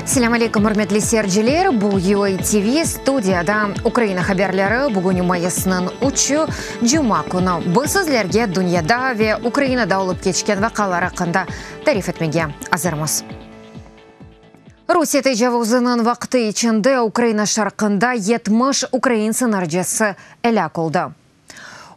Selâm aleykum, ürmetli seyirciler! Bu VOA TV, studiyada Ukraina haberleri. Bugün mayısnıñ üçü, cuma künü. Biz sizlerge dünyada ve Ukrainada olıp keçken vaqalar aqqında tarif etmege azırmız. Rusiye tecavuzınıñ vaqtı içinde Ukraina şarqında yetmiş ukrain sınırcısı elâk oldı.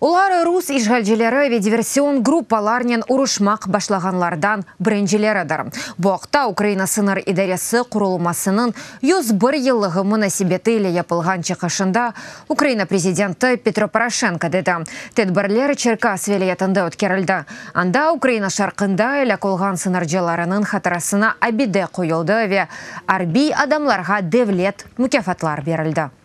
Olar rus işğalcileri ve diversion gruppalarnen uruşmaq başlağanlardan birincileridir. Bu aqta Ukraina Sıñır idaresi qurulmasınıñ yüz bir yıllığı munasebeti ile yapılğan çıqışında Ukraina prezidenti Petro Poroşenko dedi. Tedbirler Çerkas vilâyetinde ötkerildi. Anda Ukraina şarqında elâk olğan sıñırcılarınıñ hatırasına abide qoyuldı ve arbiy adamlarğa devlet mukâfatlar berildi.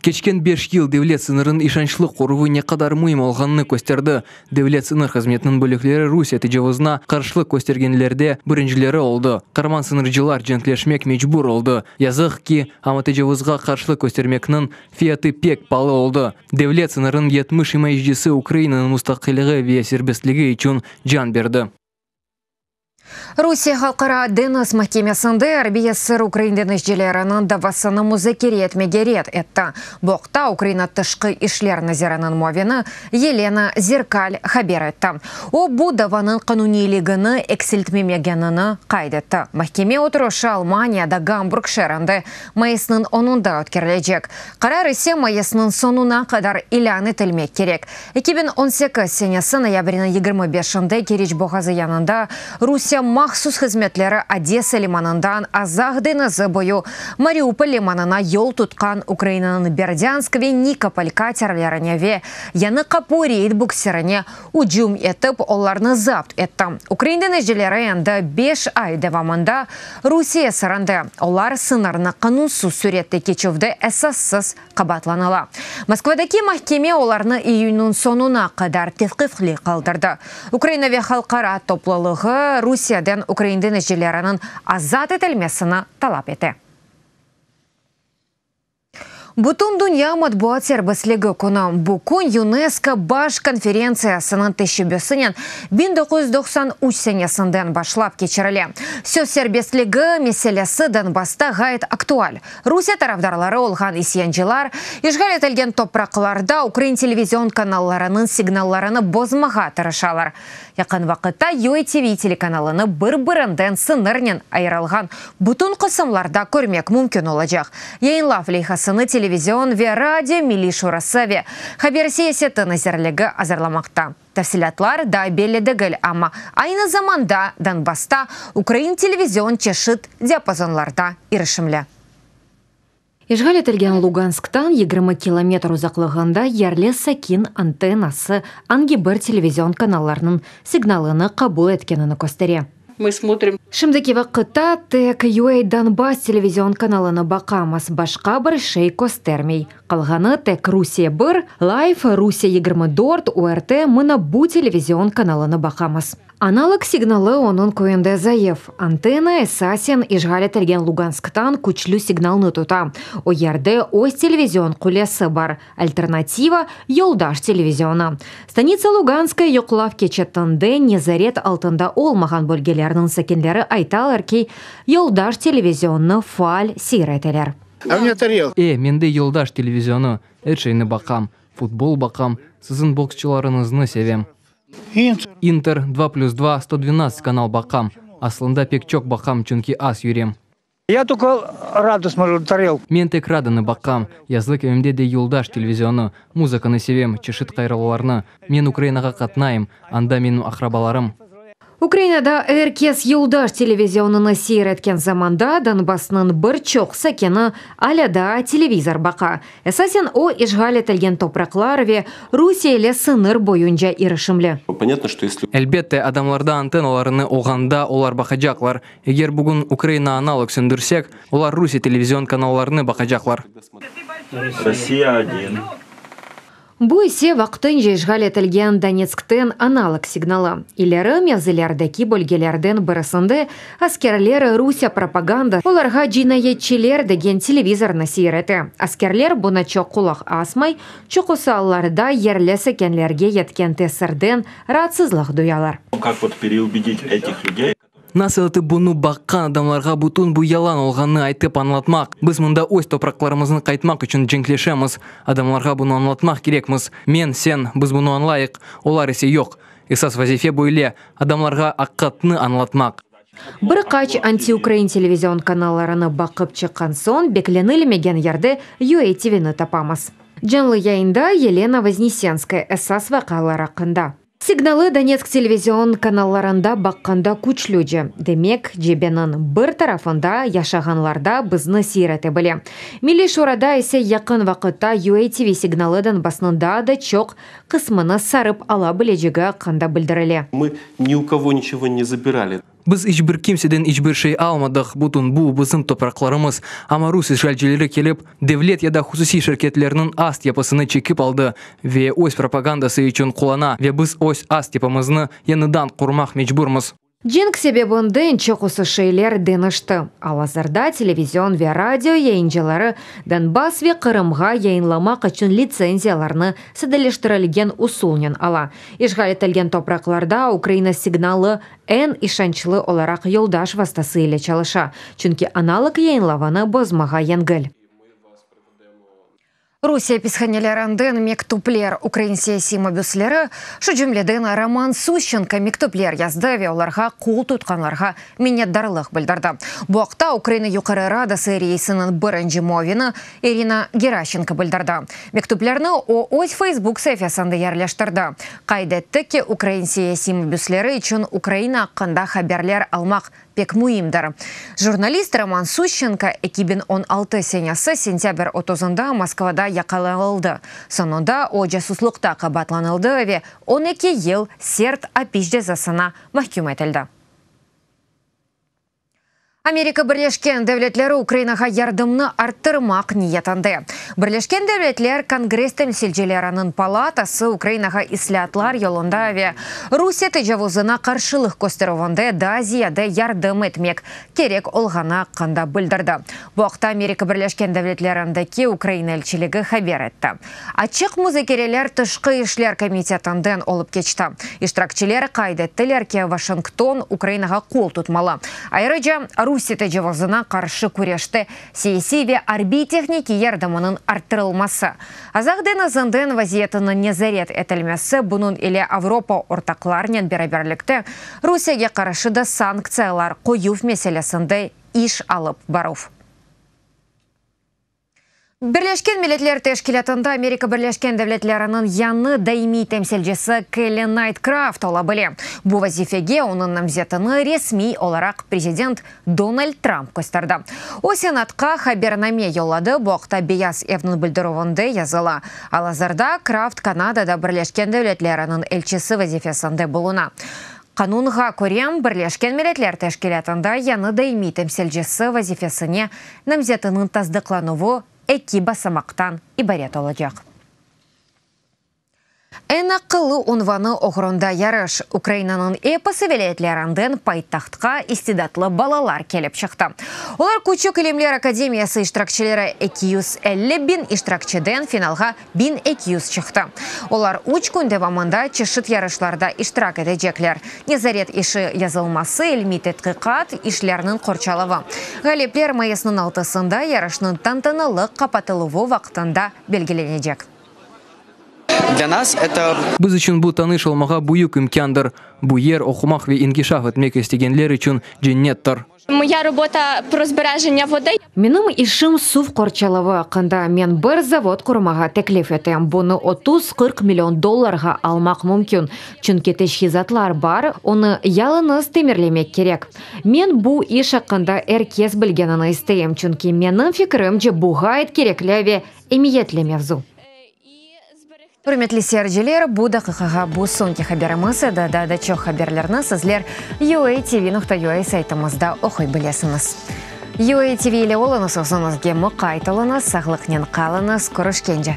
Keçken beş yıl devlet sıñırınıñ işançlı qoruvı ne qadar müim olğanını kösterdi. Devlet sıñır hızmetiniñ bölükleri Rusiye tecavuzına qarşılıq köstergenlerde birincileri oldı. Qarman sıñırcılar cenkleşmek mecbur oldı, yazıq ki, amma tecavuzğa qarşılıq köstermekniñ fiyatı pek palı oldı. Devlet sıñırınıñ yetmiş imayecisi Ukrainanıñ mustaqiligi ve serbestligi içün can berdi. Rusiye Halqara deñiz mahkemesinde arbiy esir ukrain deñizcileriniñ davasını muzakere etmege red etti. Bu aqta Ukraina tışqı işler naziriniñ muavini Yelena Zerkalь haber etti. O, bu davanıñ qanuniyligini eksiltmemegenini qayd etti. Mahkeme oturışı Almaniyada Gamburg şeerinde mayısnıñ onunda ötkerilecek. Qarar ise mayısnıñ soñuna qadar ilân etilmek kerek. Eki biñ on sekiz senesi noyabriniñ yigirmi beşinde Keriç boğazı yanında Rusiye mahsus hızmetleri Odesa limanından Azaq deñizi boyu Mariupol limanına yol tutqan Ukrainanıñ Berdânsk ve Nikopol katerlerine ve Yanı Qapu reyd buksirine ücüm etip, olarnı zapt etti. Ukrain denizcileri endi beş ay devamında Rusiye esirinde, olar sıñırnı qanunsız sürette keçüvde esassız qabaatlanıla. Moskvadaki mahkeme olarnı iyünniñ soñuna qadar tevqifli qaldırdı. Ukraina ve halqara toplulığı Rusiyadan ukrain denizcileriniñ azat etilmesini talap ete. Bütündünya matbuat serbestligi künü, bu kün UNESCO Baş konferentsiyasınıñ teşebbüsinen biñ doquz yüz doqsan üç senesinden başlap keçirile. Söz serbestligi meselesi Donbassta ğayet aktual. Rusiye tarafdarları olğan isyancılar, işğal etilgen topraqlarda ukrain televizion kanallarınıñ signallarını bozmağa tırışalar. Yaqın vaqıtta UATV telekanalını bir-birinden sıñırnen ayırılğan bütün qısımlarda körmek mümkün olacaq. Yayınlav leyhasını Televizion ve radio milliy şurası ve Haber siyaseti nazirligi azırlamaqta. Tafsilâtlar daa belli degil, amma aynı zamanda Donbassta ukrain televizion çeşit diapazonlarda irişimli. İşğal etilgen Lugansktan yigirmi kilometr uzaqlığında yerli sakin antennası angi bir televizion kanallarnıñ signalını qabul etkenini köstere. Şimdiki vaqıtta tek UA Donbass televizion kanalını baqamız, başqa bir şey köstermey. Qalğanı tek Rusiye bir, Live, Rusiye yigirmi dört, URT, mına bu televizion kanalını baqamız. Analog signalı onıñ köyünde zayıf, antenna, esasen, işğal etilgen Lugansktan küçlü signalnı tuta, o yerde öz televizion qulesi bar, Alternativa, yoldaş televizionı. Stanitsa Luganskaya yoqlav keçetinde nezaret altında olmağan bölgelerniñ sakinleri aytalar ki, yoldaş televizionnı faal seyir eteler. E, mende yoldaş televizionnı, er şeyni baqam, futbol baqam, siziñ boksçılarıñıznı sevem. İnter, Dva plüs dva, Sto dvennadzt kanal baqam. Aslında pek çoq baqam, çünki az yürem. Ya toko radu smolu tarel. Men tek radunı baqqam. Yazlık evimde de yoldaş televizionı. Muzıkanı sevem, çeşit qayravularnı. Men Ukrainağa qatnayım. Anda menim aqrabalarım. Ukrainada er kes yoldaş televizionını seyir etken zamanda, Donbassnıñ bir çoq sakini alâ daa televizor baqa. Esasen o, işğal etilgen topraqlar ve Rusiye ile sıñır boyunca irişimli. Elbette, adamlarda antennalarını oğanda, olar baqacaqlar. Eger bugün Ukraina analog söndürsek, olar Rusiye televizion kanallarını baqacaqlar. Rossiya I. Bu ise vaqtınca işğal etilgen Donetskten analog signalı. İleri mevzilerdeki bölgelerden birisinde askerler Rusiye propagandası olarğa cinayetçiler degen televizornı seyir ete. Askerler buna çoq qulaq asmay, çoqusı allarda yerli sakinlerge yetken tesirden raatsızlıq duyalar. Nasıl etip bunı baqqan adamlarğa bütün bu yalan olğanını aytıp añlatmaq? Biz mında öz topraqlarımıznı qaytmaq içün cenkleşemiz. Adamlarğa bunı añlatmaq kerekmiz. Men, sen, biz bunı añlayıq, olar ise yoq. Esas vazife böyle, adamlarğa aqıqatnı añlatmaq. Bir qaç antiukrain televizion kanallarını baqıp çıqqan soñ beklenilmegen yerde UA TVni tapamız. Canlı yayında Yelena Voznesenskaya esas vaqıalar aqqında. Signalı Donetsk televizion kanallarında baqqanda küçlüce, demek, cebeniñ bir tarafında yaşağanlarda bizni seyir ete bile. Milliy Şurada ise yaqın vaqıtta UATV signalı Donbassnıñ daa da çoq qısmını sarıp ala bilecegi aqqında bildirile. Mı ni u kovo niçego ne zabirali. Biz iç bir kimseden iç bir şey almadıq, bütün bu, bizim topraqlarımız. Amma rus işğalcileri kelip, devlet ya da hususiy şirketlerniñ ast yapısını çekip aldı ve öz propagandası içün qullana ve biz öz ast yapımıznı yañıdan qurmaq mecburmız. Cenk sebebinden çoqusı şeyler deñişti. Al-azırda televizion ve radio yayıncıları Donbass ve Qırımğa yayınlamaq içün litsenziyalarnı sadeleştirilgen usulnen ala. İşğal etilgen topraqlarda Ukraina signalı eñ işançlı olaraq yoldaş vastası ile çalışa, çünki analog yayınlavını bozmağa yengil. Rusiye pishanelerinden mektüpler ukrain siyasiy mabüsleri, şu cümleden Roman Sushçenko mektüpler yazdı ve olarğa qol tutqanlarğa minnetdarlıq bildirdi. Bu aqta Ukraina Yuqarı Radası reisiniñ birinci muavini İrina Geraşenko bildirdi. Mektüplerni o, öz Facebook saifesında yerleştirdi. Qayd etti ki, ukrain siyasiy mabüsleri içün Ukraina aqqında haberler almaq pek müimdir. Jurnalist Roman Sushchenko eki biñ on altı senesi sentâbr otuzında Moskvada yaqalanıldı, soñunda o casuslıqta qabaatlanıldı ve on eki yıl sert apis cezasına mahküm etildi. Amerika Birleşken Devletleri Ukrainağa yardımnı arttırmaq niyetinde. Birleşken Devletler Kongress Temsilcileriniñ palatası Ukrainağa islâatlar yolunda ve Rusiye tecavuzına qarşılıq kösterüvinde daa ziyade yardım etmek kerek olğanı aqqında bildirdi. Bu aqta Amerika Birleşken Devletlerindeki Ukraina elçiligi haber etti. Açıq muzakereler Tışqı işler komitetinden olıp keçti. İştirakçiler qayd ettiler ki, Vaşington Ukrainağa qol tutmalı, ayırıca Rusiye tecavuzına qarşı küreşte siyasiy ve arbiy-tehnikiy yardımınıñ arttırılması, Azaq deñizinden vaziyetiniñ nezaret etilmesi, bunıñ ile Avropa ortaqlarnen beraberlikte Rusiyege qarşı da sanktsiyalar qoyuv meselesinde iş alıp baruv. Birleşken Milletler Teşkilâtında Amerika Birleşken Devletleriniñ yañı daimiy temsilcisi Kelli Naytkraft ola bile. Bu vazifege onıñ namzetini resmiy olaraq prezident Donald Tramp kösterdi. O, Senatqa habername yolladı, bu aqta Beyaz evniñ bildirüvinde yazıla. Al-azırda Kraft Kanadada Birleşken Devletleriniñ elçisi vazifesinde buluna. Qanunğa köre, Birleşken Milletler Teşkilâtında yañı daimiy temsilcisi vazifesine namzetiniñ tasdıqlanuvı eki basamaqtan ibaret olacaq. Eñ aqıllı unvanı oğrunda yarış. Ukrainanıñ episi vilâyetlerinden paytahtqa istidatlı balalar kelip çıqtı. Olar Küçük ilimler akademiyası iştirakçileri eki yüz elli biñ iştirakçiden finalğa Biñ eki yüz çıqtı. Olar üç kün devamında çeşit yarışlarda iştirak etecekler, nezaret işi yazılması, ilmiy tedqiqat, işlerniñ qorçalavı. Ğalipler mayısnıñ altısında yarışnıñ tantanalı qapatıluvı vaqtında belgilenecek. Biz içün bu tanış olmağa büyük imkândır. Bu yer oqumaq ve inkişaf etmek istegenler içün cennettir. Moya robota, prozbirajenâ vodoi. Menim işim suv qorçalavı aqqında, men bir zavod qurmağa teklif etem, bunı otuz, qırq million dollarğa almaq mümkün, çünki teçhizatlar bar, onı yalıñız temirlemek kerek. Men bu iş aqqında er kes bilgenini isteyim, çünki menim fikirimce bu ğayet kerekli ve emiyetli mevzu. Ürmetli seyirciler, bu daqiqağa bu soñki haberimiz edi, daa da çoq haberlerni sizler UATV nokta UA saytımızda oquy bilesiñiz. UATV ile oluñız, özüñizge muqayt oluñız, sağlıqnen qalıñız, körüşkence!